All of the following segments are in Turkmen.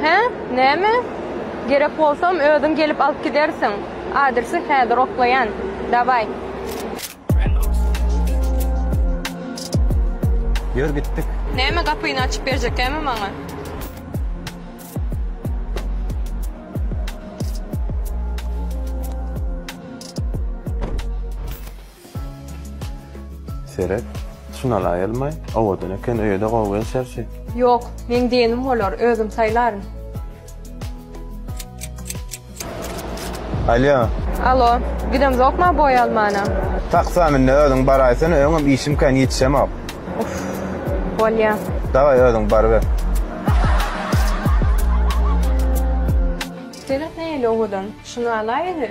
Hä? Näme? Gerek bolsam, özüň gelip alyp gidersiň. Adresi häzir oklaýan. Dawaý. Ýör gitdik. Näme gapyny açyp berjekämi maňa? Seret, şunal aýylmaý, owadan eken, öýe-de gowy gelşer şi. Ýok, meň diýenim bolar, özüm saýlaryn. Alýo. Alo, gidemzokma boý almana? Taksa min-de özüň baraýsana, öňem işim kän, ýetişemok. Uff, bolýa. Daway, özüň baryber. Seret nähili owadan, şuny alaýyny.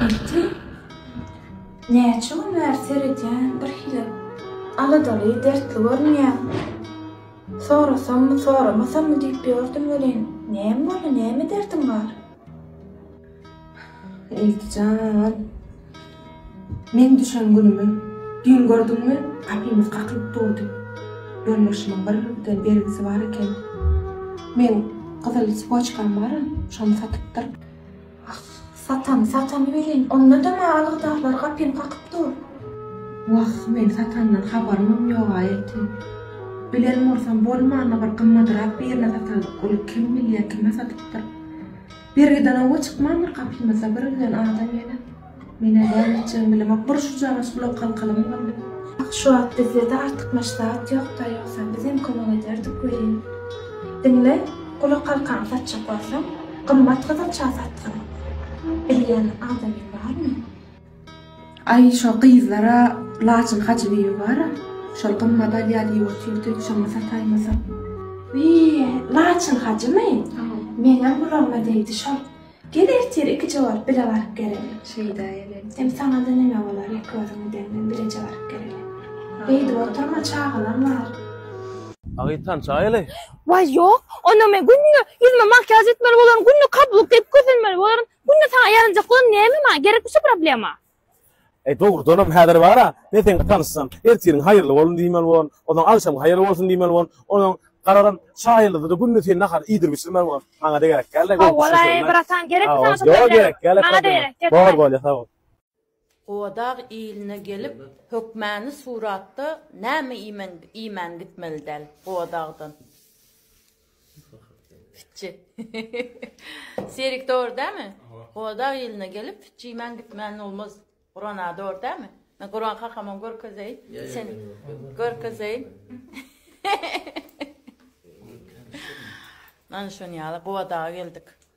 Ertir näçe gün bäri seredýän birhili aladaly dertli görünýäň. Sorasammy soramasammy diýip ýördüm welin näme boldy näme derdiň bar. Ilki jan. Meň düşen günümi düýn gördüňmi? Gapymyz gakylyp durdy. Ýolbaşymyň bir rubl bergisi bar eken. Meň gyzyl spoçkam bar, şony satypdyr. Ah, satany satany welin, onda-da maňa algydarlar gapymy kakyp dur. Wah, men satandan habarymam ýog-a elti. Bilen bolsam bolmanda bir gymmadyrak birine satardyk, ol kim bilýä, kime satypdyr. Bergiden oba çykman bir gapymyzda bir ölen adam ýene. Men-ä näletjegimi bilemok, bir şujagaz gulak halkalamy boldy. Ah, şu wagt bizde-de artykmaç zat ýok-da, ýogsam bizem kömek ederdik welin. Diňle, gulak halkany satjak bolsaň, gymmat gyzylça satgyn. Bilýän adamyň barmy? Aý şo gyzlara lacyn hajy diýibi bara şol gymmat alýa diýip otyrdy şony sataýmasam. Wiý lacyn hajymy meňem gulagyma degdi şol gel ertir iki jogap bile baryp geleli şeýda ele hem saňada neme bolar ýek özüňi demden bileje baryp geleli beýdip oturma çagalar bar. Agyz tançaý ele. Waý ýok onda men günde ýüzüme makýaž etmeli bolaryn günde kablyk geýip gözelmeli bolaryn Günde saňa ýaranjaklygy näme maňa gerekmi şu problema. Eý dogrudanam häzir bara men seňle tanyşsam ertiriň haýyrly bolun diýmeli bolan, onsoň agşam haýyrly bolsun diýmeli bolan, onsoň garalan şa ýyldyzyda günde sen nahary iýdirip içirmeli bolan. Maňada gerekgälde. Howwalaý bratan gerekmi saňa şu problema. Maňada gerek. Bor bolýa sag bol. Gowadag iline gelip hökmäni suratda näme iýmen iýmän gitmeli däl Gowadagdan. Pitji. Serik dogry dämi? Gowadag iline gelip pitji iýmän gitmän bolmaz. Gurana dogry dämi? Men Guran kakamam görkezeýin. Sen görkezeýin. Mana şony ýaly Gowadaga geldik.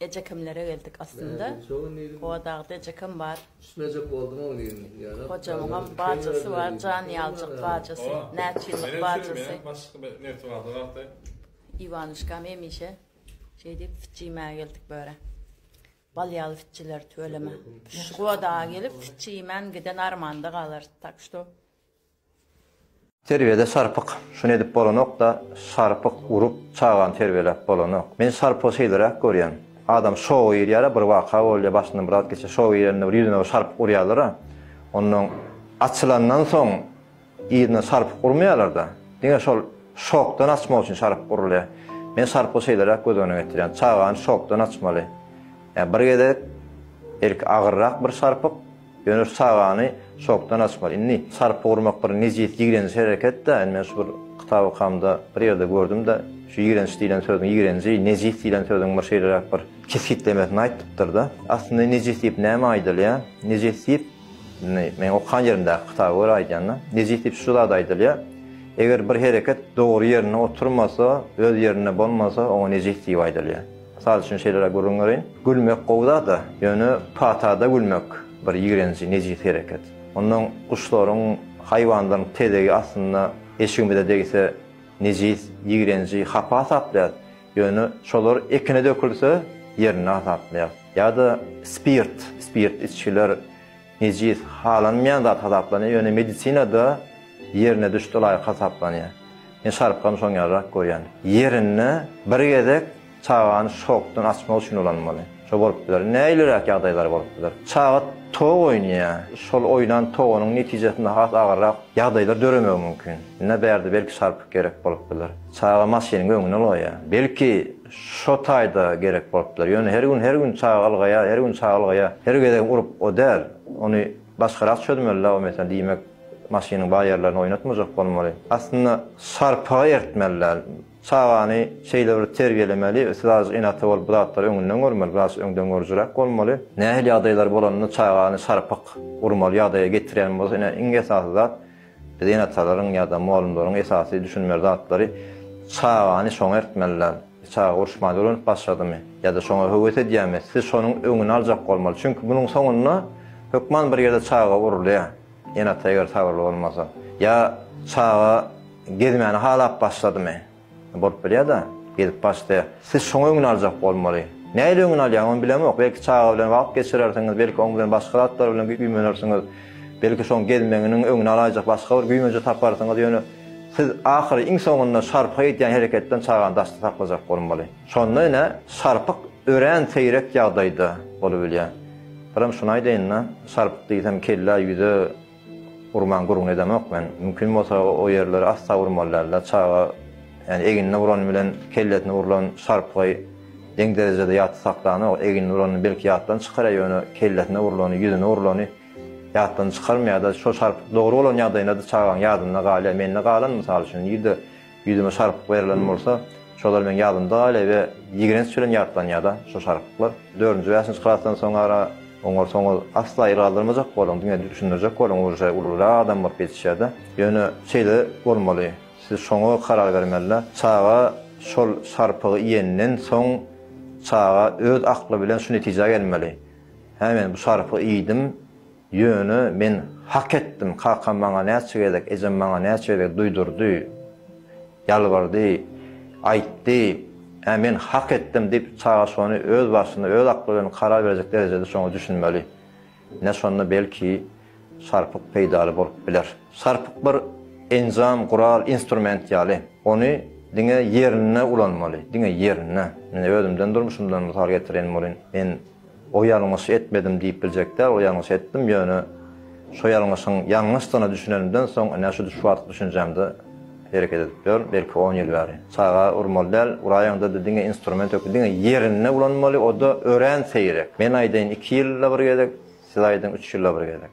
Ejekemlere geldik aslynda. Gowadagyda ejekem bar. Hojamyňam bajasy bar, Janýaljyk bajasy, näçe ýyllyk bajasy. Iwanuşkam hemişe şeý diýip süt iýmäge geldik bu ýere. Bal ýaly sütçüler tüweleme. Şu gowadaga gelip sütçi iýmän giden armanda galarys. Tak şto Terbiýede sarpyk şuny edip bolanokda sarpyk urup çagany terbiýeläp bolanok. Men sarpygy şeýleräk görýän. Adam şowa girýärä bir waka bolýa başyndan bir zat geçýär şowa girende bir ýüzüne bir sarpyk urýarlara onnoň açylandan soň yzyna sarpyk urmaýarlarda diňe şol şokdan açmak üçin sarpyk urulýa. Men sarpygy şeýleräk göz öňüne getirýän çagany şokdan açmaly. Ýa bir gezek belki agyrrak bir sarpyk. Ýöne sagany şokdan açmaly. Indi sarpa urmak bir nejis, ýigrenji hereket-dä. Indi men şu bir kitap okamda bir ýerde gördüm-de, şu ýigrenç diýlen sözüň ýigrenji, nejis diýlen sözüň bir şeýleräk bir kesgitlemesini aýtdypdyr-da. Aslynda nejis diýip näme aýdylýar? Nejis diýip, indi meň okan ýerimdäki kitaba görä aýdýan-da, nejis diýip şu zat aýdylýar, eger bir hereket dogry ýerinde oturmasa, öz ýerinde bolmasa, oňa nejis diýip aýdylýar. Mysal üçin şeýleräk gürrüň bereýin. Gülmek gowy zat-a, ýöne patada gülmek bir ýigrenji, nejis hereket. Ondan guşlaryň, haýwanlaryň tezegi astynda eşigimize degse, nejis, ýigrenji, hapa hasaplaýarys. Ýöne şolar ekine dökülse, ýerinde hasaplaýarys. Ýa-da spirt, spirt içgiler. Nejis, halanmaýan zat hasaplanýar, ýöne medisinada ýerine düşdi laýyk hasaplanýar. Men şarpgamy şoň ýalyrak görýän. Ýerinde bir gezek çagany şokdan açmak üçin ulanmaly. Şo bolup biler. Näliräk ýagdaýlar bolup biler. Çaga tog oýnaýar. Şol oýnan togunyň netijesinde has agyrrak ýagdaýlar döremegi mümkin. Ine bärde belki şarpyk gerek bolup biler. Çaga maşynyň öňüne goýýar. Belki Şo taýda gerek bolupdyr. Ýöne her gün her gün çaga ylgaýa, her gün çaga ylgaýa, her gezegem urup o däl. Ony başgarak çözmelidä o mesele. Diýmek, maşynyň bar ýerlerini oýnatmajak bolmaly. Aslynda sarpaga ertmeli däl. Çagany şeýle bir terbiýelemeli, siz azajyk ene-ata bolup bu zatlary öňünden görmeli, biraz öňdengörüjiräk bolmaly. Nähili ýagdaýlar bolanda çagany sarpyk urmaly ýagdaýa getirýän bolsa ine iň esasy zat, Biz ene-atalaryň ýa-da mugallymlaryň esasy düşünmeli zatlary çagany şoňa eritmeliler. Çaga uruşman öwrenip başladymy? Ýa-da şoňa höwes edýärmi? Siz şonuň öňüni aljak bolmaly. Çünki munuň soňunda hökman bir ýerde çaga urulýar. Ene-ata eger sabyrly bolmasa. Ýa çaga gezmäni halap başladymy? Bolup bilýär-dä. Gezip başlaýar. Siz şoň öňüni aljak bolmaly. Nähili öňüni alýan, ony bilemok. Belki çaga bilen wagt geçirersiňiz, belki oň bilen başga zatlar bilen güýmenersiňiz. Belki şoň gezmeginiň öňüni alaýjak başga bir güýmenje taparsyňyz, ýöne siz ahyry iň soňunda şarpyk edýän hereketden çagany daşda saklajak bolmaly. Şonda ine, şarpyk örän seýrek ýagdaýda bolubilýär. Birem şuny aýdaýyn-da, şarpyk diýsem kellä, ýüze, Urmaň gürrüňini edemok men. Mümkin bolsa o ýerleri asla urmaly däldir. Çaga ýani egnine urany bilen kellesine urlan şarpgy deň derejede ýatda saklanok. Egnine uranyny belki ýatdan çykarýar ýöne kellesine urlany, ýüzüne urlany ýatdan çykarmaýarda. Şo şarpyk dogry bolan ýagdaýynda-da çagaň ýadynda galýar. Mende galan mysal üçin nirde Ýüzüme şarpyk berlen bolsa, şolar meň ýadymda galýar we ýigrenç bilen ýatlanýar-da şo şarpyklar. Dördünji, bäşinji klasdan soňara oňar soňuz asla el galdyrmajak boluň, diňe düşündirjek boluň uje ulurak adam bolup ýetişýär-de. Ýöne şeýle bolmaly, siz şoňa karar bermeli-de. Çaga şol şarpygy iýenden soň çaga öz akly bilen şu netijä gelmeli, Hä men bu şarpygy iýdim, Ýöne men hak etdim, kakam maňa näçe gezek, ejem maňa näçe gezek duýdurdy, ýalbardy, aýtdy, ä men hak etdim diýip, çaga şony öz başyna, öz akly bilen karar berjek derejede şoňa düşünmeli. Ine şonda belki Sarpyk peýdaly bolup biler. Sarpyk bir enjam, gural, instrument ýaly. Ony diňe ýerinde ulanmaly, diňe ýerinde. Men özümden, durmuşymdan mysal getiren bolun. Men. O ýalňyş etmedim diýip biljek däl, o ýalňyş etdim, ýöne şo ýalňyşyň ýalňyşdygyna düşünenimden soň, ine şu şu wagtky düşünjämde hereket edip ýörün, belki on ýyl bäri. Çaga urmaly däl, uraýaňda-da diňe instrument ökde, diňe ýerinde ulanmaly, o-da örän seýrek. Men aýdaýyn iki ýylda bir gezek, siz aýdyň üç ýylda bir gezek.